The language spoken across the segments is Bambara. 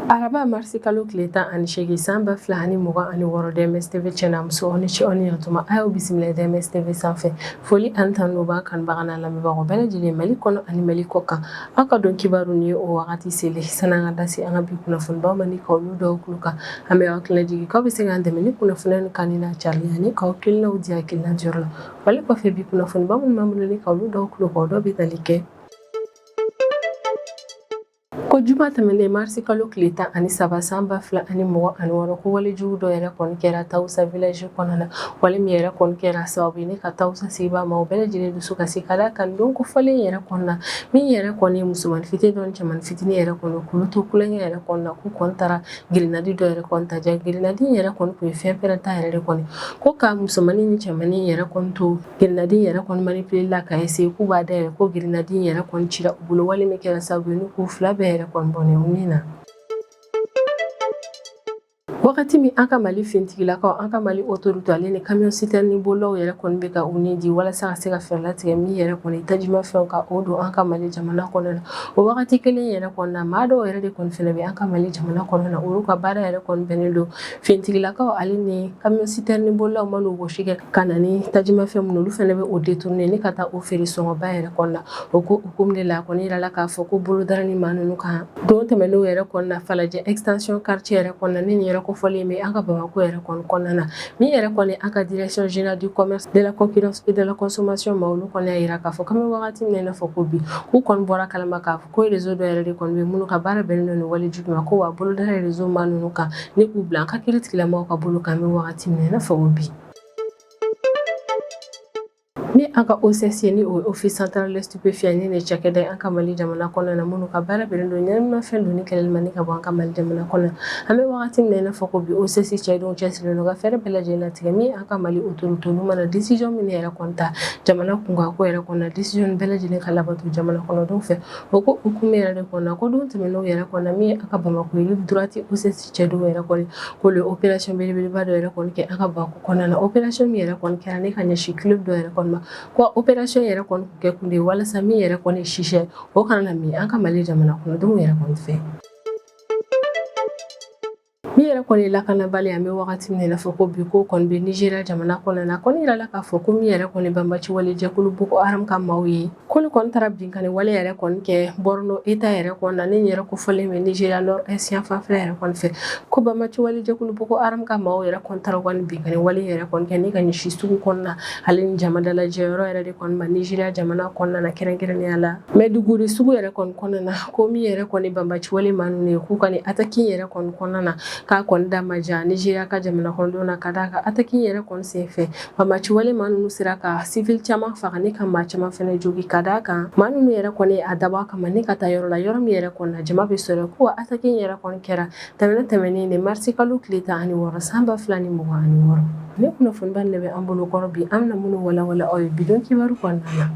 araba marisi kalo tile tan ani seegin san ba fila ani mugan ani wɔɔrɔ DMS tv cɛ n'a muso aw ni ce aw ni yɛrɛtuma a y'aw bisimila DMS tv sanfɛ foli ani tanu b'a kanubaga n'a lamɛnbagaw bɛɛ lajɛlen mali kɔnɔ ani mali kɔ kan aw ka don kibaru nin o wagati selen san'an ka da se an ka bi kunnafonibaw ma ni k'olu d'aw kulo kan an bɛ aw hakili lajigi k'aw bɛ se k'an dɛmɛ ni kunnafoni nin kanuni n'a cariya ni k'aw hakilinaw di hakilina jɔyɔrɔ la wale kɔfɛ bi kunnafoniba minnu b'an bolo ni ka olu d'aw tulo kan dɔ bɛ tali kɛ ko juma tɛmɛnen marisi kalo tile tan ani saba san ba fila ani mugan ani wɔɔrɔ ko walejugu dɔ yɛrɛ kɔni kɛra tawusa village kɔnɔ na wale min yɛrɛ kɔni kɛra sababu ye ni ka tawusa sigibaa maaw bɛɛ lajɛlen dusu kasi ka d'a kan don kofɔlen yɛrɛ kɔnɔ na min yɛrɛ kɔni ye musoman fitini dɔ ni cɛman fitini yɛrɛ kɔni k'olu to kulonkɛ yɛrɛ kɔnɔ na k'u kɔni taara Girinadi dɔ yɛrɛ kɔni ta jaa girinadi yɛrɛ kɔni tun ye fɛn pɛrɛnta yɛrɛ de kɔni ko ka musomannin ni cɛmannin yɛrɛ kɔni to girinadi yɛrɛ kɔni manipulé la ka essayer k'u b'a dayɛlɛ ko girinadi yɛrɛ kɔni cira u bolo wale min kɛra sababu ye k'u fila bɛɛ yɛrɛ kɔni bɔnɛ u ni na wagati min an ka mali fintigilakaw an ka mali autorité ale ni camion citerne bolilaw yɛrɛ kɔni bɛ ka u ni di walasa ka se ka fɛɛrɛ latigɛ min yɛrɛ kɔni tajimafɛn ka o don an ka mali jamana kɔnɔ na O wagati kelen yɛrɛ kɔnɔna na maa dɔw yɛrɛ de kɔni fana bɛ an ka Mali jamana kɔnɔna na olu ka baara yɛrɛ kɔni bɛnnen don finitigilakaw ale ni camion citerne bolilaw man'u wɔsi kɛ ka na ni tajimafɛn minnu olu fana bɛ o détourner ni ka taa o feere sɔngɔba yɛrɛ kɔnɔna na o ko hukumu de la a kɔni yirala k'a fɔ ko bolodara ni maa ninnu kan don tɛmɛnenw yɛrɛ kɔnɔna Falajɛ extension quartier yɛrɛ kɔnɔna ni nin yɛrɛ kofɔlen bɛ an ka Bamakɔ yɛrɛ kɔni kɔnɔna na Min yɛrɛ kɔni an ka direction générale du commerce de la concurrence de la consommation ma olu kɔni y'a yira k'a fɔ k'an bɛ wagati min na i n'a fɔ ko bi k'u kɔni bɔr'a kalama k'a fɔ ko rezo dɔ yɛrɛ de kɔni bɛ minnu ka baara bɛnnen don nin walejugu ma ko wa bolodara rezo maa ninnu kan ni k'u bila an ka kiiritigɛla mɔgɔw ka bolo kan an bɛ wagati min na i n'a fɔ ko bi Ni an ka OCS ni office central des stupéfiants ni nin cakɛda an ka mali jamana kɔnɔ na minnu ka baara bɛnnen don ɲɛnaminifɛn donni kɛlɛli ma ni k'a bɔ an ka mali jamana kɔnɔ an bɛ wagati min na i n'a fɔ ko bi OCS cɛdenw cɛsirilen don ka fɛɛrɛ bɛɛ lajɛlen latigɛ min an ka mali autorité olu mana décision min yɛrɛ kɔni ta jamana kunkanko yɛrɛ kɔnɔ décision bɛɛ lajɛlen ka labato jamana kɔnɔdenw fɛ o ko hukumu yɛrɛ de kɔnɔ ko don tɛmɛnenw yɛrɛ kɔnɔ min an ka bamakɔ rive droite OCS cɛdenw yɛrɛ kɔni k'olu ye opération belebeleba dɔ yɛrɛ kɔni kɛ an ka Bamakɔ kɔnɔna na opération min yɛrɛ kɔni kɛra ni ka ɲɛsin club dɔ yɛrɛ kɔni ma ko opération yɛrɛ kɔni kun kɛ kun de ye walasa min yɛrɛ kɔni chicha o kana na min an ka Mali jamana kɔnɔdenw yɛrɛ kɔni fɛ min yɛrɛ kɔni ye lakanabali an bɛ wagati min na i n'a fɔ ko bi ko kɔni bɛ Nizeriya jamana kɔnɔna na a kɔni yirala k'a fɔ ko min yɛrɛ kɔni banbaanci wale jɛkulu Boko Haram ka maaw ye K'olu kɔni taara binkanni wale yɛrɛ kɔni kɛ Borno eta yɛrɛ kɔnɔ na ni yɛrɛ kofɔlen bɛ Nigeria nord est yanfan fɛ yɛrɛ kɔni fɛ ko banbaci wale jɛkulu Boko Haram ka maaw yɛrɛ kɔni taara binkanni wale yɛrɛ kɔni kɛ ne ka ɲɛsin sugu kɔnɔna ale ni jamadalajɛ yɔrɔ yɛrɛ de kɔni ma Nigeria jamana kɔnɔna na kɛrɛnkɛrɛnnenya la Maiduguri sugu yɛrɛ kɔni kɔnɔna na ko min yɛrɛ kɔni banbaci wale maa ninnu ye k'u ka ataki in yɛrɛ kɔni kɔnɔna na k'a kɔni da maja Nigeria ka jamana kɔnɔdenw na ka d'a kan ataki in yɛrɛ kɔni sen fɛ Banbaci wale maa ninnu sera ka siwili caman faga ne ka maa caman fɛnɛ jogin ka d'a kan maa ninnu yɛrɛ kɔni y'a dabɔ kama ne ka taa yɔrɔ la yɔrɔ min yɛrɛ kɔnɔ na jama bɛ sɔrɔ ko ataki yɛrɛ kɔni kɛra tɛnɛn tɛmɛnen de marisikalo tile tan ani wɔɔrɔ san ba fila ni mugan ani wɔɔrɔ ne kunnafoniba de bɛ an bolokɔrɔ bi an na minnu walawalan aw ye bidon kibaru kɔnɔna na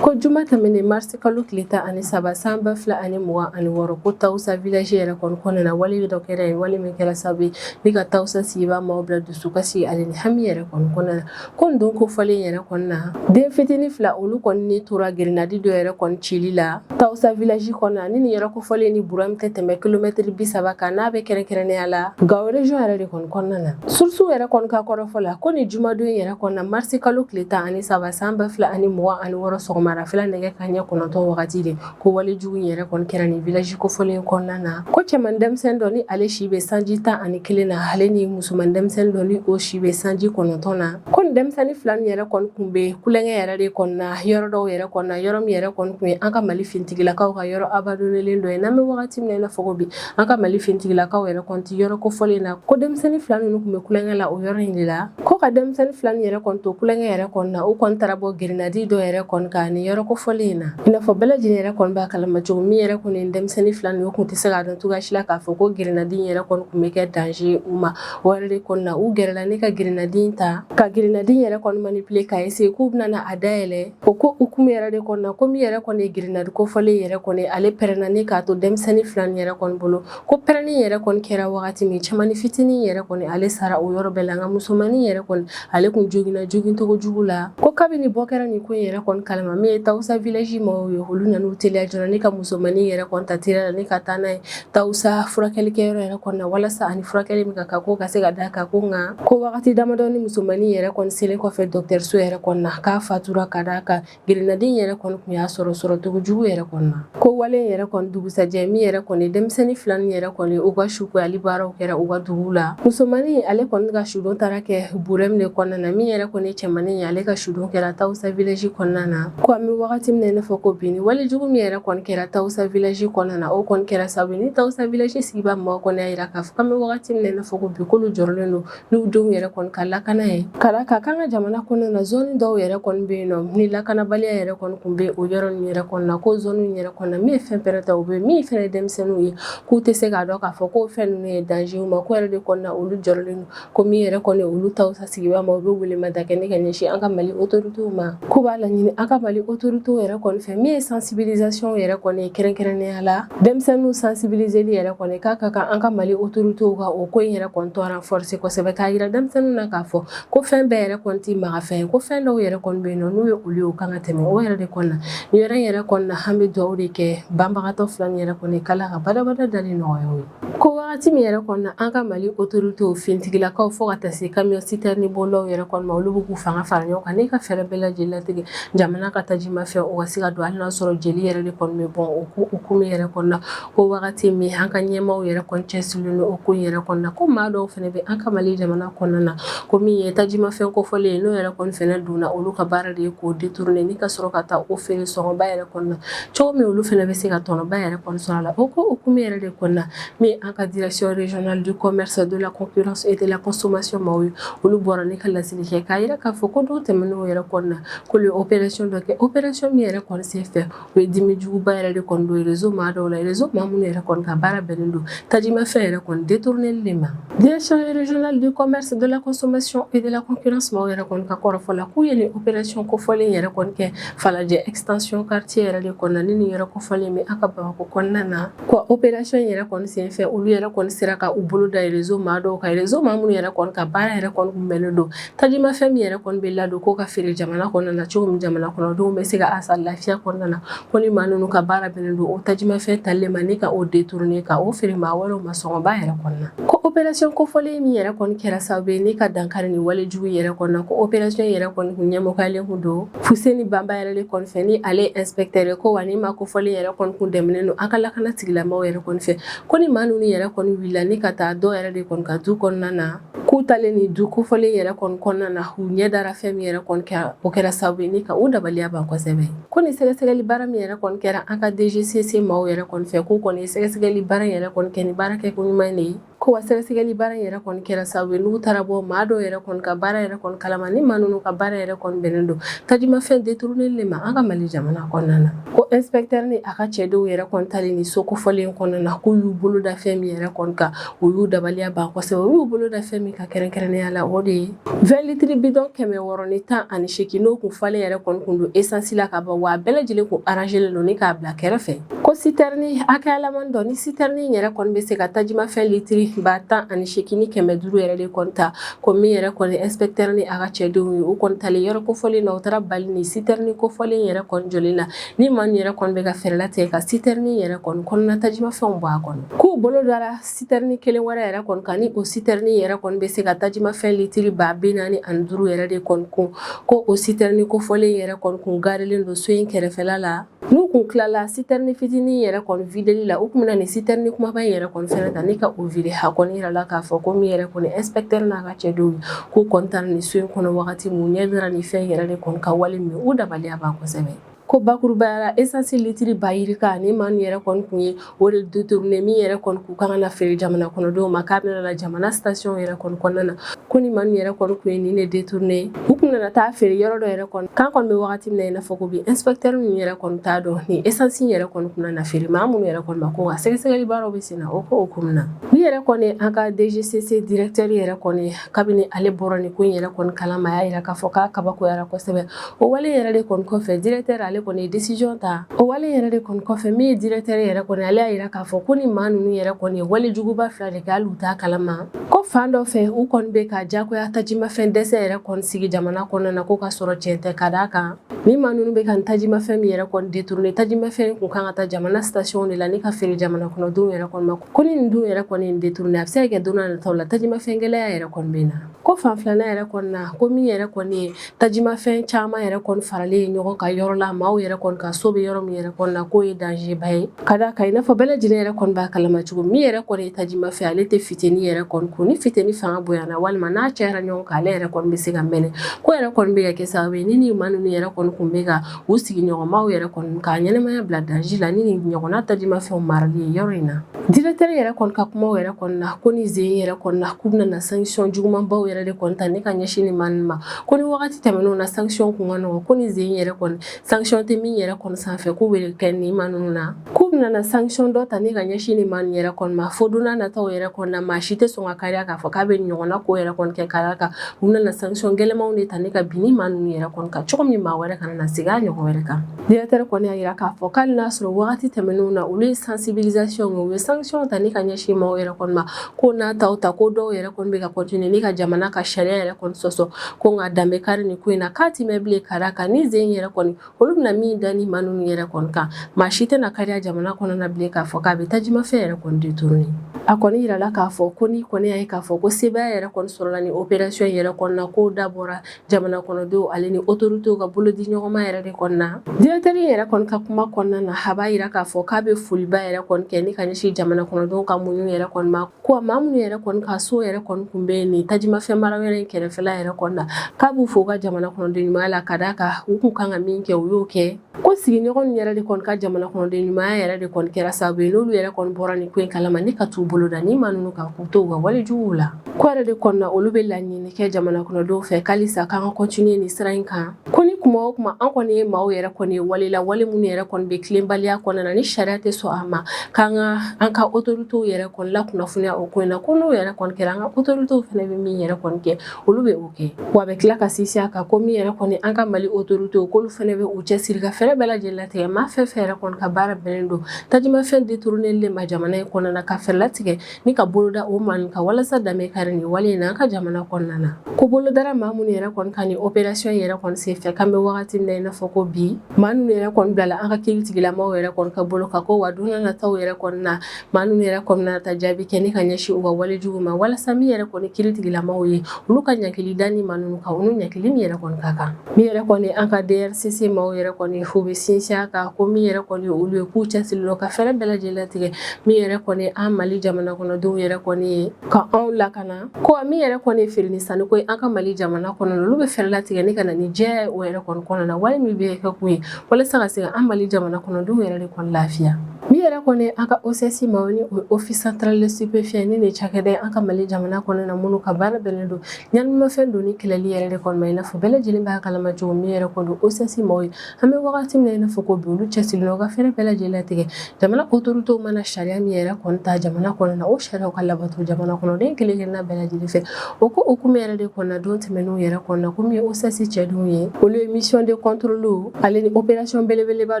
Ko juma tɛmɛnen marisi kalo tile tan ani saba san ba fila ani mugan ani wɔɔrɔ ko Tawusa village yɛrɛ kɔni kɔnɔna na wale dɔ kɛra yen wale min kɛra sababu ye ne ka Tawusa sigibaa maaw bila dusukasi ale ni hami yɛrɛ kɔni kɔnɔna na ko don kofɔlen yɛrɛ kɔni na den fitinin fila olu kɔni ni tora grinadi dɔ yɛrɛ kɔni cili la Tawusa village kɔnɔna ni nin yɛrɛ kofɔlen ni Burɛm tɛ tɛmɛ kilomɛtiri bi saba kan n'a bɛ kɛrɛnkɛrɛnnenya la Gao région yɛrɛ de kɔni kɔnɔna na surusiw yɛrɛ kɔni ka kɔrɔfɔ la ko ni jumadon in yɛrɛ kɔnɔna marisi kalo tile tan ani saba san ba fila ani mugan ani wɔɔrɔ sɔgɔmada fɛla nɛgɛ kanɲɛ kɔnɔntɔn wagati de ko wale jugu in yɛrɛ kɔni kɛra ni village kofɔlen kɔnɔna na ko cɛman denmisɛnnin dɔ ni ale si bɛ sanji tan ani kelen na ale ni musoman denmisɛnnin dɔ ni o si bɛ sanji kɔnɔntɔn na ko nin denmisɛnnin fila nin yɛrɛ kɔni kun bɛ kulonkɛ yɛrɛ de kɔnɔna yɔrɔ dɔw yɛrɛ kɔnɔna yɔrɔ min yɛrɛ kɔni kun ye an ka mali fintigilakaw ka yɔrɔ abandonnelen dɔ ye n'an bɛ wagati min na i n'a fɔ ko bi an ka mali fintigilakaw yɛrɛ kɔni tɛ yɔrɔ kofɔlen na ko denmisɛnnin fila ninnu kun bɛ kulonkɛ la o yɔrɔ in de la ko ka denmisɛnnin fila nin yɛrɛ kɔni to kulonkɛ yɛrɛ kɔni na u kɔni taara bɔ grinadi dɔ yɛrɛ kɔni kan ni yɔrɔ kofɔlen in na i n'a fɔ bɛɛ lajɛlen yɛrɛ kɔni b'a kalama cogo min yɛrɛ kɔni ye denmisɛnnin fila ninnu kun tɛ se k'a dɔn cogoya si la k'a fɔ ko grinadi yɛrɛ kɔni kun bɛ kɛ danze u ma o yɛrɛ de kɔni na u gɛrɛla ne ka grinadi ta ka grinadi yɛrɛ kɔni manipile k'a eseye k'u bɛna a dayɛlɛ O ko hukumu yɛrɛ de kɔnɔ na ko min yɛrɛ kɔni ye grinadi kofɔlen yɛrɛ kɔni ale pɛrɛnna ne k'a to denmisɛnnin fila nin yɛrɛ kɔni bolo ko pɛrɛnni yɛrɛ kɔni kɛra wagati min cɛmannin fitinin yɛrɛ kɔni ale sara o yɔrɔ bɛɛ la nka musomannin yɛrɛ kɔni ale kun joginna jogincogo jugu la ko kabini bɔ kɛra nin ko in yɛrɛ kɔni kalama min ye Tawusa village mɔgɔw ye olu nana u teliya joona ne ka musomannin yɛrɛ kɔni ta teliya la ne ka taa n'a ye Tawusa furakɛlikɛ yɔrɔ yɛrɛ kɔnɔ na walasa a ni furakɛli min ka kan k'o ka se ka da a kan ko nka ko wagati damadɔnin musomannin yɛrɛ kɔni selen kɔfɛ dɔgɔtɔrɔso yɛrɛ kɔnɔ na k'a fatura ka da a kan grinadi in yɛrɛ kɔni tun y'a sɔrɔ sɔrɔcogo jugu yɛrɛ kɔnɔ na ko wale yɛrɛ kɔni dugusajɛ min yɛrɛ kɔni denmisɛnnin fila ninnu yɛrɛ kɔni u ka sukoyali baaraw kɛra u ka dugu la musomannin ale kɔni ka sudon taara kɛ Burɛm le kɔnɔna na min yɛrɛ kɔni cɛmannin ye ale ka sudon kɛra Tawusa village kɔnɔna na Ko an bɛ wagati min na i n'a fɔ ko bi nin wale jugu min yɛrɛ kɔni kɛra Tawosa village kɔnɔna na o kɔni kɛra sababu ye ni Tawosa village sigibaa maaw kɔni y'a jira k'a fɔ k'an bɛ wagati min na i n'a fɔ ko bi k'olu jɔrɔlen don n'u denw yɛrɛ kɔni ka lakana ye ka d'a kan k'an ka jamana kɔnɔna na zone dɔw yɛrɛ kɔni bɛ yen nɔ ni lakanabaliya yɛrɛ kɔni tun bɛ o yɔrɔ ninnu yɛrɛ kɔnɔna ko zone ninnu yɛrɛ kɔnɔna min ye fɛn pɛrɛntaw bɛ min fana ye denmisɛnninw ye k'u tɛ se k'a dɔn k'a fɔ ko fɛn ninnu ye danger ye u ma k'o yɛrɛ de kɔnɔna olu jɔrɔlen don Ko min yɛrɛ kɔni olu Tawosa sigibaa maaw bɛ weleweleda kɛ ne ka ɲɛsin an ka Mali autorités ma k'u b'a laɲini an ka Mali autorités yɛrɛ kɔni fɛ min ye sensibilisation yɛrɛ kɔni ye kɛrɛnkɛrɛnnenya la denmisɛnninw sensibiliseli yɛrɛ kɔni k'a ka kan an ka Mali autorités ka o ko in yɛrɛ kɔni tɔ renforcer kosɛbɛ k'a jira denmisɛnninw na k'a fɔ ko fɛn bɛɛ yɛrɛ kɔni tɛ magafɛn ye ko fɛn dɔw yɛrɛ kɔni bɛ yen nɔ n'u ye olu ye u kan ka tɛmɛ o yɛrɛ de kɔni na nin yɔrɔ in yɛrɛ kɔni na an bɛ dugawu de kɛ banabagatɔ fila nin yɛrɛ kɔni k'Ala ka barikada da nɔgɔya u ye Ko wagati min yɛrɛ kɔnɔna an ka Mali autorités fintigilakaw fo ka taa se camion citerne bolilaw yɛrɛ kɔni ma olu bɛ k'u fanga fara ɲɔgɔn kan ne ka fɛɛrɛ bɛɛ lajɛlen latigɛ jamana ka tajimafɛn o ka se ka don hali n'a sɔrɔ jeli yɛrɛ de kɔni bɛ bɔn o ko hukumu yɛrɛ kɔnɔna ko wagati min an ka ɲɛmaaw yɛrɛ kɔni cɛsirilen don o ko in yɛrɛ kɔni na ko maa dɔw fana bɛ an ka Mali jamana kɔnɔna na ko min ye tajimafɛn kofɔlen ye n'o yɛrɛ kɔni fana donna olu ka baara de ye k'o détourner ni ka sɔrɔ ka taa o feere sɔngɔba yɛrɛ kɔni na cogo min olu fana bɛ se ka tɔnɔba yɛrɛ kɔni sɔrɔ a la o ko hukumu yɛrɛ de kɔnɔna min an ka direction régionale du commerce de la concurrence et de la consommation maaw ye olu bɔra ne ka laseli kɛ k'a yira k'a fɔ ko don tɛmɛnenw yɛrɛ kɔni na k'olu ye opération dɔ kɛ opération min yɛrɛ kɔni senfɛ o ye dimi juguba yɛrɛ de kɔni don réseau maa dɔw la réseau maa minnu yɛrɛ kɔni ka baara bɛnnen don tajimafɛn yɛrɛ kɔni détourneli de ma direction régionale du commerce de la consommation et de la concurrence maaw yɛrɛ kɔni ka kɔrɔfɔ la k'u ye nin opération kofɔlen yɛrɛ kɔni kɛ Falajɛ extension quartier yɛrɛ de kɔnɔna ni nin yɔrɔ kofɔlen bɛ an ka Bamakɔ kɔnɔna na wa opération yɛrɛ kɔni senfɛ olu yɛrɛ kɔni sera ka u bolo da réseau maa dɔw kan réseau maa minnu yɛrɛ kɔni ka baara yɛrɛ kɔni kun bɛnnen don tajimafɛn min yɛrɛ kɔni bɛ ladon k'o ka feere jamana kɔnɔna na cogo min jamana kɔnɔdenw bɛ se ka a san lafiya kɔnɔna na ko ni maa ninnu ka baara bɛnnen don o tajimafɛn talen ma ni ka o détourner ka o feere maa wɛrɛw ma sɔngɔba yɛrɛ kɔni na ko opération kofɔlen min yɛrɛ kɔni kɛra sababu ye ni ka dankari nin wale jugu yɛrɛ kɔni na ko opération yɛrɛ kɔni kun ɲɛmɔgɔyalen kun don Fuseni Banba yɛrɛ de kɔni fɛ ni ale ye inspecteur ye ko wa nin maa kofɔlen yɛrɛ kɔni kun dɛmɛnen don an ka lakana tigilamaaw yɛrɛ kɔni fɛ ko ni maa ninnu yɛrɛ kɔni wulila ni ka taa dɔ yɛrɛ de kɔni ka du kɔnɔna na k'u taalen nin du kofɔlen yɛrɛ kɔni kɔnɔna na u ɲɛ dara fɛn min yɛrɛ kɔni kɛra o kɛra sababu ye ni ka u dabaliya ban kosɛbɛ ko ni sɛgɛsɛgɛli baara min yɛrɛ kɔni kɛra an ka DGCC maaw yɛrɛ kɔni fɛ k'u kɔni ye sɛgɛsɛgɛli baara yɛrɛ kɔni kɛ ni baara kɛko ɲuman de ye Ko wa sɛgɛsɛgɛli baara in yɛrɛ kɔni kɛra sababu ye n'u taara bɔ maa dɔw yɛrɛ kɔni ka baara yɛrɛ kɔni kalama ni maa ninnu ka baara yɛrɛ kɔni bɛnnen don tajimafɛn détournerli ma an ka Mali jamana kɔnɔna na ko inspecteur ni a ka cɛdenw yɛrɛ kɔni taalen ni so kofɔlen kɔnɔna na k'u y'u bolo da fɛn min yɛrɛ kɔni kan o y'u dabaliya ban kosɛbɛ u y'u bolo da fɛn min kan kɛrɛnkɛrɛnnenya la o de ye 20 litres bidon kɛmɛ wɔɔrɔ ni tan ani seegin n'o kun falen yɛrɛ kɔni kun don essence la ka ban wa a bɛɛ lajɛlen kun arrangelen don ni k'a bila kɛrɛfɛ ko sitɛrini hakɛyalaman dɔ ni sitɛrini yɛrɛ kɔni bɛ se ka tajimafɛn litiri ba tan ani seegin ni kɛmɛ duuru yɛrɛ de kɔni ta ko min yɛrɛ kɔni ɛnspekitɛri ni a ka cɛdenw ye u kɔni taalen yɔrɔ kofɔlen na u taara bali ni sitɛrini kofɔlen yɛrɛ kɔni jɔlen na ni maa min yɛrɛ kɔni bɛ ka fɛɛrɛ latigɛ ka sitɛrini yɛrɛ kɔni kɔnɔna tajimafɛnw bɔ a kɔnɔ k'u bolo dara sitɛrini kelen wɛrɛ yɛrɛ kɔni kan ni o sitɛrini yɛrɛ kɔni bɛ se ka tajimafɛn litiri ba bi naani ani duuru yɛrɛ de kɔni kun ko o sitɛrini kofɔlen yɛrɛ kɔni kun garilen don so in kɛrɛfɛla la N'u kun tilala sitɛrini fitinin yɛrɛ kɔni videli la u kun bɛna ni sitɛrini kumaba in yɛrɛ kɔni fɛnɛ ta ni ka o vide a kɔni yirala k'a fɔ ko min yɛrɛ kɔni inspecteur n'a ka cɛdenw ye k'u kɔni taara nin so in kɔnɔ wagati min u ɲɛ dara nin fɛn in yɛrɛ de kɔni kan wale min y'u dabaliya ban kosɛbɛ ko bakurubaya la essence litiri ba yirika ni maa ninnu yɛrɛ kɔni kun ye o de détourner min yɛrɛ kɔni kun ka kan ka feere jamana kɔnɔdenw ma k'a bɛna na jamana station yɛrɛ kɔni kɔnɔna na ko ni maa ninnu yɛrɛ kɔni kun ye nin de détourner u kun nana taa feere yɔrɔ dɔ yɛrɛ kɔni k'an kɔni bɛ wagati min na i n'a fɔ ko bi inspecteur ninnu yɛrɛ kɔni t'a dɔn ni esansi yɛrɛ kɔni kun na feere maa minnu yɛrɛ kɔni ma ko wa sɛgɛsɛgɛli baaraw bɛ sen na o ko hukumu na ni yɛrɛ kɔni an ka DGCC directeur yɛrɛ kɔni kabini ale bɔra nin ko in yɛrɛ kɔni kalama a y'a yira k'a fɔ k'a kabakoyara kosɛbɛ o wale yɛrɛ de kɔni kɔfɛ directeur ale kɔni ye decision ta o wale yɛrɛ de kɔni kɔfɛ min ye directeur yɛrɛ kɔni ale y'a yira k'a fɔ ko ni maa ninnu yɛrɛ kɔni ye wale juguba fila de kɛ hali u t'a kalama ko fan dɔ fɛ u kɔni bɛ ka jagoya tajimafɛn dɛsɛ yɛrɛ kɔni sigi jamana kɔnɔna na ko ka sɔrɔ tiɲɛ tɛ ka d'a kan ni maa ninnu bɛ ka nin tajimafɛn min yɛrɛ kɔni détourner tajimafɛn kun kan ka taa jamana station de la ni ka feere jamana kɔnɔdenw yɛrɛ kɔni ma ko ni nin dun yɛrɛ kɔni ye nin détourner a bɛ se ka kɛ don nataw la tajimafɛn gɛlɛya yɛrɛ kɔni bɛ na ko fan filanan yɛrɛ kɔni na ko min yɛrɛ kɔni ye tajimafɛn caman yɛrɛ kɔni faralen ye ɲɔgɔn kan yɔrɔ la maaw yɛrɛ kɔni ka so bɛ yɔrɔ min yɛrɛ kɔni na k'o ye danger ba ye ka da kan i n'a fɔ bɛɛ lajɛlen yɛrɛ kɔni b'a kalama cogo min yɛrɛ kɔni ye tajimafɛn ale tɛ funteni yɛrɛ kɔni kun ni funteni fanga bonyana walima n'a cayara ɲɔgɔn kan ale yɛrɛ kɔni bɛ se ka mɛnɛ k'o yɛrɛ kɔni bɛ ka kɛ sababu ye ni ni maa ninnu yɛrɛ kɔni kun bɛ ka U sigiɲɔgɔnmaw yɛrɛ kɔni ka ɲɛnamaya bila danger la ni nin ɲɔgɔnna tajimafɛnw marali ye yɔrɔ in na. Directeur yɛrɛ kɔni ka kumaw yɛrɛ kɔni na, ko ni sen in yɛrɛ kɔni na, k'u bɛna na sanction jugumanbaw yɛrɛ de kɔni ta ni ka ɲɛsin nin maa ninnu ma. Ko ni wagati tɛmɛnenw na sanction kun ka nɔgɔ, ko ni sen in yɛrɛ kɔni sanction tɛ min yɛrɛ kɔni sanfɛ k'u b'o de kɛ nin maa ninnu na. K'u bɛna na sanction dɔ ta ni ka ɲɛsin nin maa ninnu yɛrɛ kɔni ma fo don n'a nataw yɛrɛ kɔni na maa si tɛ sɔn ka kariya k'a fɔ k'a bɛ nin ɲɔgɔnna ko yɛrɛ kɔni kɛ ka d'a kan u bɛna na sanction gɛlɛmanw de ta ni ka bin ni maa ninnu yɛrɛ kɔni kan cogo min maa wɛrɛ kana na segin a ɲɔgɔn wɛrɛ kan directeur kɔni y'a yira k'a fɔ k'ali n'a sɔrɔ wagati tɛmɛnenw na olu ye sensibilisation kɛ u ye sanction ta ni ka ɲɛsin maaw yɛrɛ kɔni ma ko n'a ta o ta ko dɔw yɛrɛ kɔni bɛ ka continuer ni ka jamana ka sariya yɛrɛ kɔni sɔsɔ ko nka dan bɛ kari nin ko in na k'a tɛ mɛn bilen ka d'a kan ni zen yɛrɛ kɔni olu bɛna min da ni maa ninnu yɛrɛ kɔni kan maa si tɛna kariya jamana kɔnɔna bilen k'a fɔ k'a bɛ tajimafɛn yɛrɛ kɔni détourner a kɔni yirala k'a fɔ ko n'i kɔni y'a ye k'a fɔ ko sebaaya yɛrɛ kɔni sɔrɔla nin opération yɛrɛ kɔnɔna k'o dabɔra jamana kɔnɔdenw ale ni autorités ka bolodiɲɔgɔnma yɛrɛ de kɔnɔna directeur yɛrɛ kɔni ka kuma kɔnɔna na a b'a yira k'a fɔ k'a bɛ foliba yɛrɛ kɔni kɛ ni ka ɲɛsin jamana kɔnɔdenw ka muɲu yɛrɛ kɔni ma Ko maa minnu yɛrɛ kɔni ka so yɛrɛ kɔni kun bɛ yen nin tajimafɛn marayɔrɔ in kɛrɛfɛla yɛrɛ kɔni na k'a b'u fo u ka jamana kɔnɔden ɲumanya la ka d'a kan u kun kan ka min kɛ u y'o kɛ ko sigiɲɔgɔn yɛrɛ de kɔni ka jamana kɔnɔden ɲumanya yɛrɛ de kɔni kɛra sababu ye n'olu yɛrɛ kɔni bɔra nin ko in kalama ni ka t'u bolo da ni maa ninnu kan k'u to u ka walejuguw la ko yɛrɛ de kɔnɔna olu bɛ laɲini kɛ jamana kɔnɔdenw fɛ k'alisa k'an ka continuer nin sira in kan Ko ni kuma o kuma an kɔni ye maa yɛrɛ kɔni ye wale la wale minnu yɛrɛ kɔni bɛ tilenbaliya kɔnɔna na ni sariya tɛ sɔn a ma k'an ka an ka autorités yɛrɛ kɔni lakunnafoniya o ko in na ko n'o yɛrɛ kɔni kɛra an ka autorités fana bɛ min yɛrɛ kɔni kɛ olu bɛ o kɛ wa a bɛ tila ka sinsin a kan ko min yɛrɛ kɔni an ka Mali autorités k'olu fana bɛ u cɛsiri ka fɛɛrɛ bɛɛ lajɛlen latigɛ maa fɛn fɛn yɛrɛ kɔni ka baara bɛnnen don tajimafɛn détourner de ma jamana in kɔnɔna ka fɛɛrɛ latigɛ ni ka bolo da o maaw kan walasa dan bɛ kari nin wale in na an ka jamana kɔnɔna na ko bolo dara maa minnu yɛrɛ kɔni kan nin opération yɛrɛ kɔni senfɛ k'an bɛ wagati min na i n'a fɔ ko bi maa ninnu yɛrɛ kɔni bilala an ka kiiritigilamaw yɛrɛ kɔni ka bolo kan ko wa don n'a nataw yɛrɛ kɔni na maa ninnu yɛrɛ kɔni bɛna taa jaabi kɛ ni ka ɲɛsin u ka walejugu ma walasa min yɛrɛ kɔni kiiritigilamaw ye olu ka ɲankili da ni maa ninnu kan olu ɲankili min yɛrɛ kɔni ka kan min yɛrɛ kɔni an ka DRCC maaw yɛrɛ kɔni f'u bɛ sinsin a kan ko min yɛrɛ kɔni olu ye k'u cɛsirilen don ka fɛɛrɛ bɛɛ lajɛlen latigɛ min yɛrɛ kɔni an Mali jamana kɔnɔdenw yɛrɛ kɔni ye ka anw lakana ko min yɛrɛ kɔni ye feere ni sanni ko ye an ka Mali jamana kɔnɔ olu bɛ fɛɛrɛ latigɛ ni ka na ni jɛya ye o yɛrɛ kɔni kɔnɔ na wale min bɛ kɛ kun ye walasa ka se ka an Mali jamana kɔnɔdenw yɛrɛ de kɔni lafiya. Min yɛrɛ kɔni an ka OCS maaw ni Office central des stupéfiants nin ye cakɛda ye an ka Mali jamana kɔnɔna na minnu ka baara bɛnnen don ɲanimafɛn donni kɛlɛli yɛrɛ de kɔni ma i n'a fɔ bɛɛ lajɛlen b'a kalama cogo min yɛrɛ kɔni OCS maaw ye an bɛ wagati min na i n'a fɔ ko bi olu cɛsirilen u ka fɛɛrɛ bɛɛ lajɛlen latigɛ jamana autorités mana na sariya min yɛrɛ kɔni ta jamana kɔnɔ na o sariya ka labato jamana kɔnɔden kelen-kelenna bɛɛ lajɛlen fɛ O ko hukumu yɛrɛ de kɔnɔna don tɛmɛnenw yɛrɛ kɔnɔna komi OCS cɛdenw ye olu ye mission de contrôle ale ni opération belebeleba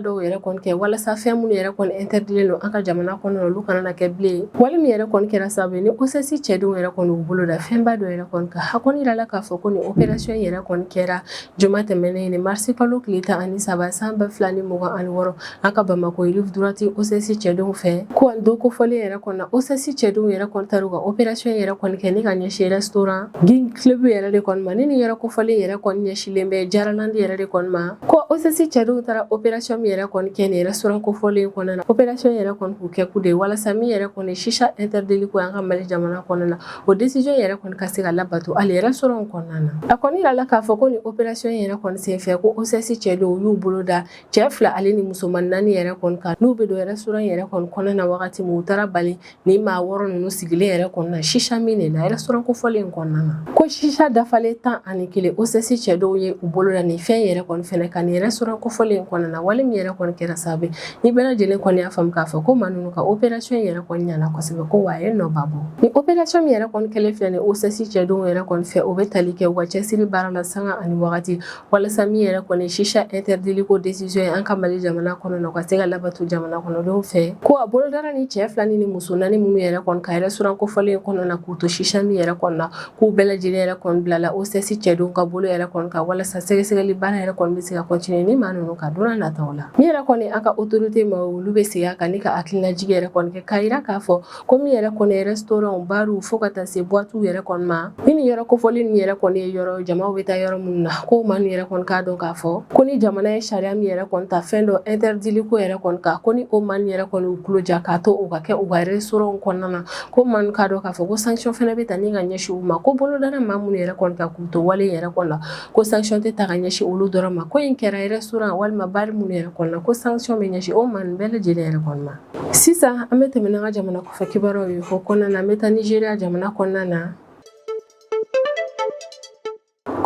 dɔw yɛrɛ kɔni kɛ walasa fɛn minnu yɛrɛ kɔni interditlen don an ka jamana kɔnɔna olu kana na kɛ bilen wale min yɛrɛ kɔni kɛra sababu ye ni OCS cɛdenw yɛrɛ kɔni y'u bolo da fɛnba dɔ yɛrɛ kɔni kan a kɔni yirala k'a fɔ ko nin opération yɛrɛ kɔni kɛra Juma tɛmɛnen nin marisi kalo tile tan ani saba san ba fila ni mugan ani wɔɔrɔ an ka Bamako rive droite OCS cɛdenw fɛ ko don kofɔlen yɛrɛ kɔni na OCS cɛdenw yɛrɛ kɔni taara u ka opération yɛrɛ kɔni kɛ ni ka ɲɛsin restaurant King Club yɛrɛ de kɔni ma ni nin yɛrɛ kofɔlen yɛrɛ kɔni ɲɛsinlen bɛ Jaralandi yɛrɛ de kɔni ma ko OCS cɛdenw taara opération min yɛrɛ kɔni kɛ nin restaurant kofɔlen kɔnɔna na opération yɛrɛ kɔni k'o kɛkun de ye walasa min yɛrɛ kɔni shisha interdit li ko an ka Mali jamana kɔnɔna na O décision yɛrɛ kɔni ka se ka labato hali restaurant in kɔnɔna na a kɔni yirala k'a fɔ ko ni opération yɛrɛ kɔni senfɛ ko OCS cɛdenw y'u bolo da cɛ fila ale ni musoman naani yɛrɛ kɔni kan n'u bɛ don restaurant in yɛrɛ kɔni kɔnɔna na wagati min u taara bali ni maa wɔɔrɔ ninnu sigilen yɛrɛ kɔni na shisha min de la restaurant kofɔlen in kɔnɔna na ko shisha dafalen tan ani kelen OCS cɛdenw ye u bolo da ni fɛn yɛrɛ kɔni fɛnɛ kan nin restaurant kofɔlen in kɔnɔna na wale min yɛrɛ kɔni kɛra sababu Ni bɛɛ lajɛlen kɔni y'a faamu k'a fɔ ko maa ninnu ka opération in yɛrɛ kɔni ɲɛna kosɛbɛ ko wa a ye nɔba bɔ ni opération min yɛrɛ kɔni kɛlen filɛ nin ye OCS cɛdenw yɛrɛ kɔni fɛ o bɛ tali kɛ u ka cɛsiri baara la sanga ani wagati walasa min yɛrɛ kɔni shisha interdit li ko décision ye an ka Mali jamana kɔnɔ na o ka se ka labato jamana kɔnɔdenw fɛ ko a bolo dara ni cɛ fila ni ni muso naani minnu yɛrɛ kɔni kan restaurant kofɔlen kɔnɔ na k'u to shisha min yɛrɛ kɔni na K'u bɛɛ lajɛlen yɛrɛ kɔni bilala OCS cɛdenw ka bolo yɛrɛ kɔni kan walasa sɛgɛsɛgɛli baara yɛrɛ kɔni bɛ se ka continuer ni maa ninnu kan don nataw la min yɛrɛ kɔni an ka autorité maaw olu bɛ segin a kan ni ka hakilinajigi yɛrɛ kɔni kɛ k'a jira k'a fɔ ko min yɛrɛ kɔni ye restaurant barw fo ka taa se boîtew yɛrɛ kɔni ma ni nin yɔrɔ kofɔlen nin yɛrɛ kɔni ye yɔrɔ jama bɛ taa yɔrɔ minnu na ko maaw yɛrɛ kɔni k'a dɔn k'a fɔ ko ni jamana ye sariya min yɛrɛ kɔni ta fɛn dɔ interdit li ko yɛrɛ kɔni kan ko ni o maaw yɛrɛ kɔni y'u tulo ja k'a to o ka kɛ u ka restaurant kɔnɔna na ko maa ninnu k'a dɔn k'a fɔ ko sanction fɛnɛ bɛ ta ni ka ɲɛsin u ma ko bolo dara maa minnu yɛrɛ kɔni kan k'u to wale yɛrɛ kɔni na ko sanction tɛ ta ka ɲɛsin olu dɔrɔn ma ko in kɛra restaurant walima bar minnu yɛrɛ kɔni na ko sanction bɛ ɲɛsin o maa ninnu bɛɛ lajɛlen yɛrɛ kɔni ma sisan an bɛ tɛmɛ n'an ka jamana kɔfɛ kibaruyaw ye o kɔnɔna na an bɛ taa Nigeria jamana kɔnɔna na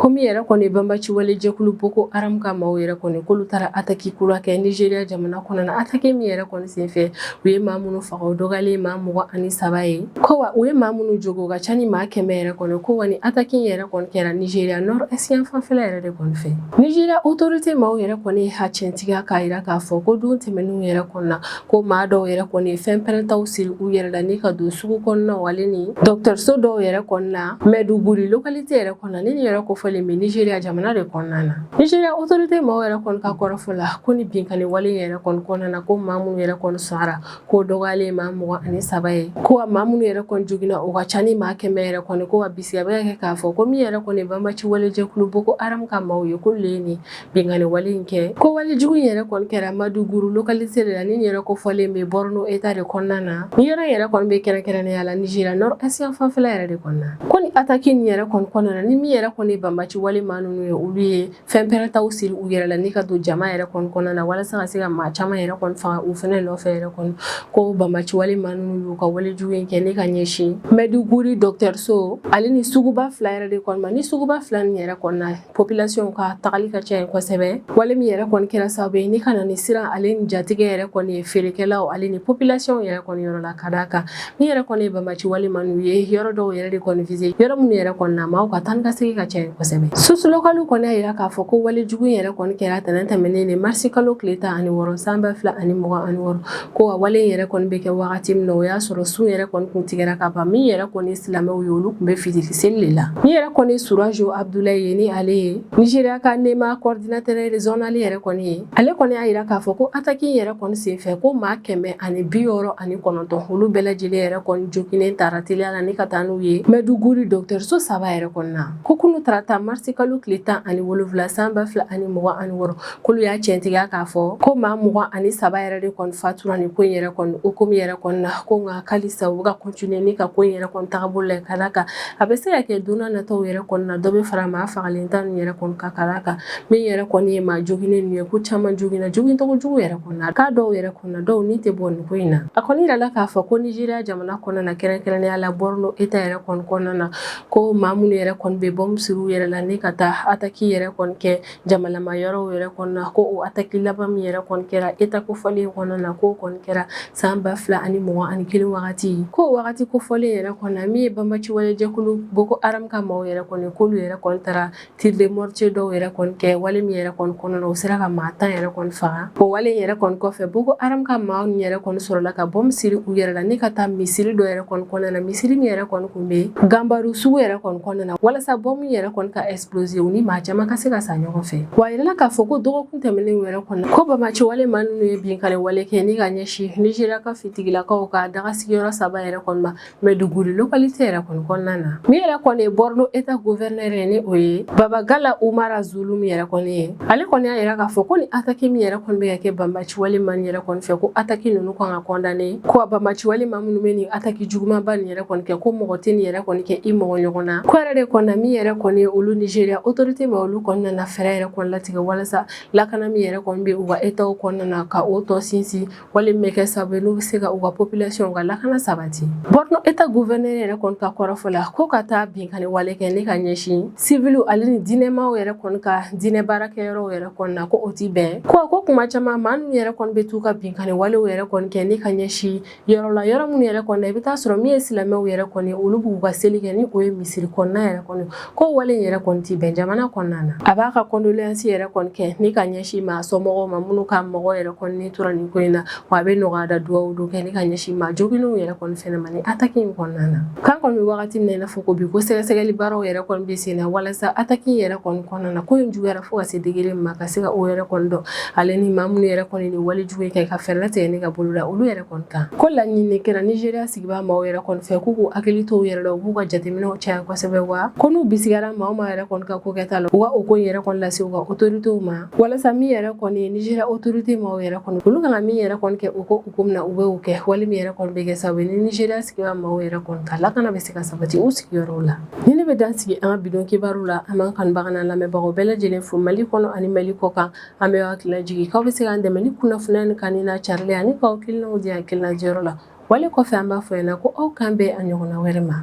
Komi yɛrɛ kɔni banbaci wale jɛkulu boko haram ka maaw yɛrɛ kɔni k'olu taara attaque kura kɛ Nigeria jamana kɔnɔ na, attaque min yɛrɛ kɔni senfɛ u ye maa minnu faga o dɔgɔyalen ye maa mugan ani saba ye, ko wa u ye maa minnu jogin o ka ca ni maa kɛmɛ yɛrɛ kɔni, ko wa nin attaque in yɛrɛ kɔni kɛra Nigeria nord est yan fanfɛla yɛrɛ de kɔni fɛ. Nigeria autorite maaw yɛrɛ kɔni ye a ciɲɛtigiya k'a jira k'a fɔ ko don tɛmɛnenw yɛrɛ kɔni na, ko maa dɔw yɛrɛ kɔni ye fɛn pɛrɛntaw siri u yɛrɛ la ni ka don sugu kɔnɔna ale ni dɔgɔtɔrɔso dɔw yɛrɛ kɔnɔna Maiduguri localité yɛrɛ kɔnɔna ni nin yɛrɛ kofɔlen bɛ Nigeria jamana de kɔnɔna na Nigeria autorité maaw yɛrɛ kɔni ka kɔrɔfɔ la ko ni binkanni wale yɛrɛ kɔni kɔnɔna na ko maa minnu yɛrɛ kɔni sara k'o dɔgɔyalen maa mugan ani saba ye ko wa maa minnu yɛrɛ kɔni joginna o ka ca ni maa kɛmɛ yɛrɛ kɔni ko wa bisiya bɛ ka kɛ k'a fɔ ko min yɛrɛ kɔni banbaci wale jɛkulu Boko Haram ka maaw ye k'olu de ye nin Binkanni wale in kɛ ko wale jugu in yɛrɛ kɔni kɛra Maiduguri localité de la ni yɛrɛ kofɔlen bɛ Borno Etat de kɔnɔna na ni yɔrɔ in yɛrɛ kɔni bɛ kɛrɛnkɛrɛnnenya la Nigeria Nord Est yan fanfɛla yɛrɛ de kɔnɔna na ko ni attaque in yɛrɛ kɔni kɔnɔna na ni min yɛrɛ kɔni ye banbaci wale maa ninnu ye olu ye fɛn pɛrɛntaw siri u yɛrɛ la ni ka don jama yɛrɛ kɔni kɔnɔna na walasa ka se ka maa caman yɛrɛ kɔni faga u fɛnɛ nɔfɛ yɛrɛ kɔni ko banbaci wale maa ninnu y'u ka wale jugu in kɛ ni ka ɲɛsin Maiduguri dɔgɔtɔrɔso ale ni suguba fila yɛrɛ de kɔni ma ni suguba fila nin yɛrɛ kɔni na population ka tagali ka ca yen kosɛbɛ wale min yɛrɛ kɔni kɛra sababu ye ni ka na ni siran ale ni jatigɛ yɛrɛ kɔni ye feerekɛlaw ale ni population yɛrɛ kɔni yɔrɔ la ka d'a kan min yɛrɛ kɔni ye banbaci wale maa ninnu ye yɔrɔ dɔw yɛrɛ de kɔni vise yɔrɔ minnu yɛrɛ kɔni na maaw ka taa ka segin ka ca yen kosɛbɛ source localew kɔni y'a yira k'a fɔ ko wale jugu yɛrɛ kɔni kɛra tɛnɛn tɛmɛnen de marisi kalo tile tan ani wɔɔrɔ san ba fila ani mugan ani wɔɔrɔ ko a wale yɛrɛ kɔni bɛ kɛ wagati min na o y'a sɔrɔ sun yɛrɛ kɔni kun tigɛra ka ban min yɛrɛ kɔni silamɛw ye olu kun bɛ fitiri seli de la min yɛrɛ kɔni surajo abudulayi ye ni ale ye nizeriya ka nema kɔridinatɛrɛ rezɔnali yɛrɛ kɔni ye ale kɔni y'a yira k'a fɔ ko ataki yɛrɛ kɔni senfɛ ko maa kɛmɛ ani bi wɔɔrɔ ani kɔnɔntɔn olu bɛɛ lajɛlen yɛrɛ kɔni joginnen tara teliya la ni ka taa n'u ye maiduguri dɔgɔtɔrɔso saba yɛrɛ kɔni na ko kunu tarata marisi kalo tile tan ani wolonwula san ba fila ani mugan ani wɔɔrɔ k'olu y'a cɛntigiya k'a fɔ ko maa mugan ani saba yɛrɛ de kɔni fatura nin ko in yɛrɛ kɔni hukumu yɛrɛ kɔni na ko nka halisa u bɛ ka kɔntiniye ni ka ko in yɛrɛ kɔni tagabolo la ka d'a kan a bɛ se ka kɛ don na nataw yɛrɛ kɔni na dɔ bɛ fara maa fagalen da nin yɛrɛ kɔni kan ka d'a kan min yɛrɛ kɔni ye maa joginnen ninnu ye ko caman joginna jogincogo jugu yɛrɛ kɔni na k'a dɔw yɛrɛ kɔni na dɔw ni tɛ bɔ nin ko in na a kɔni yirala k'a fɔ ko nizeriya jamana kɔnɔna na kɛrɛnkɛrɛnnenya la bɔrɔno eta yɛrɛ kɔni kɔnɔna na ko maa minnu yɛrɛ kɔni bɛ bɔnbu siri u yɛrɛ la ni ka taa ataki yɛrɛ kɔni kɛ jamalama yɔrɔ yɛrɛ kɔni na ko o ataki laban min yɛrɛ kɔni kɛra eta kofɔlen kɔnɔna na ko kɔni kɛra san ba fila ani mugan ani kelen wagati ko wagati kofɔlen yɛrɛ kɔnɔ min ye banbaci wale jɛkulu boko haram ka maaw yɛrɛ kɔni k'olu yɛrɛ kɔni taara tir de mortier dɔw yɛrɛ kɔni kɛ wale min yɛrɛ kɔni kɔnɔna u sera ka maa tan yɛrɛ kɔni faga o wale yɛrɛ kɔni kɔfɛ boko haram ka maaw ni yɛrɛ kɔni sɔrɔla ka bɔnbu siri u yɛrɛ la ni ka taa misiri dɔ yɛrɛ kɔni kɔnɔna na misiri min yɛrɛ kɔni kun bɛ ganbaru sugu yɛrɛ kɔni kɔnɔna na walasa bɔnbu in yɛrɛ kɔni ka es Kulozi u ni maa caman ka se ka sa ɲɔgɔn fɛ wa yirala k'a fɔ ko dɔgɔkun tɛmɛnen yɛrɛ kɔnɔ ko banbaci wale maa ninnu ye binkanni wale kɛ ni ka ɲɛsin nizeriya ka fitigilakaw ka daga sigiyɔrɔ saba yɛrɛ kɔni ma maiduguri lokalite yɛrɛ kɔni kɔnɔna na min yɛrɛ kɔni ye bɔrɔno eta guvɛrinɛrɛ ye ni o ye babagana umara zulum yɛrɛ kɔni ye ale kɔni y'a yira k'a fɔ ko ni ataki min yɛrɛ kɔni bɛ ka kɛ banbaci ci wale maa nin yɛrɛ kɔni fɛ ko ataki ninnu kan ka kɔndane ko banbaci wale maa minnu bɛ nin ataki jugumanba nin yɛrɛ kɔni kɛ ko mɔgɔ tɛ nin yɛrɛ kɔni kɛ i mɔgɔ ɲɔgɔn na ko yɛrɛ de kɔnɔna min yɛrɛ kɔni ye olu nigeria autorité maa olu kɔni nana fɛɛrɛ yɛrɛ kɔni latigɛ walasa lakana min yɛrɛ kɔni bɛ u ka etaw kɔnɔna na ka o tɔ sinsin wale min bɛ kɛ sababu ye n'u bɛ se ka u ka population ka lakana sabati borno eta gouverneur yɛrɛ kɔni ka kɔrɔfɔ la ko ka taa binkanni wale kɛ ni ka ɲɛsin sivil ale ni diinɛmaw yɛrɛ kɔni ka diinɛ baarakɛyɔrɔw yɛrɛ kɔni na ko o tɛ bɛn ko ko kuma caman maa ninnu yɛrɛ kɔni bɛ t'u ka binkanni walew yɛrɛ kɔni kɛ ni ka ɲɛsin yɔrɔ la yɔrɔ minnu yɛrɛ kɔni na i bɛ t'a sɔrɔ min ye silamɛw yɛrɛ kɔni ye olu b'u ka seli kɛ ni o ye misiri kɔnɔna yɛrɛ kɔni ko wale in yɛrɛ kɔni tɛ bɛn jamana kɔnɔna na a b'a ka kɔndoleyansi yɛrɛ kɔni kɛ ni ka ɲɛsin maa somɔgɔw ma minnu ka mɔgɔ yɛrɛ kɔni tora nin ko in na wa a bɛ nɔgɔya da dugawu don kɛ ni ka ɲɛsin maa joginw yɛrɛ kɔni fɛnɛ ma nin ataki in kɔnɔna na k'an kɔni bɛ wagati min na i n'a fɔ ko bi ko sɛgɛsɛgɛli baaraw yɛrɛ kɔni bɛ sen na walasa ataki in yɛrɛ kɔni kɔnɔna na ko in juguyara fo ka se degere min ma ka se ka o yɛrɛ kɔni dɔn ale ni maa minnu yɛrɛ kɔni ni wale jugu kɛ ka fɛɛrɛ latigɛ ni ka bolo da olu yɛrɛ kɔni kan ko laɲini kɛra nizeriya sigibaa maaw yɛrɛ kɔni fɛ k'u k'u hakili to u yɛrɛ la u b'u ka jateminɛw caya kosɛbɛ wa ko n'u bisigara maa o maa yɛrɛ kɔni ka ko kɛta la u ka o ko yɛrɛ kɔni lase u ka otoritew ma walasa min yɛrɛ kɔni ye nizeriya otorite maaw yɛrɛ kɔni olu kan ka min yɛrɛ kɔni kɛ cogo min na u bɛ o kɛ wale min yɛrɛ kɔni bɛ kɛ sababu ni nizeriya sigibaa maaw yɛrɛ kɔni ka lakana bɛ se ka sabati u sigiyɔrɔw la nin ne bɛ dan sigi an ka bi don kibaru la an b'an kanubaga n'an lamɛnbagaw bɛɛ lajɛlen fo mali kɔnɔ ani mali kɔ kan an bɛ hakili lajigin k'aw bɛ se k'an dɛmɛ ni kunnafoniya in kanuni n'a carili ani k'aw hakilinaw di hakilina diyɔrɔ la wale kɔfɛ an b'a fɔ aw ɲɛ na ko aw k'an bɛn a ɲɔgɔnna wɛrɛ ma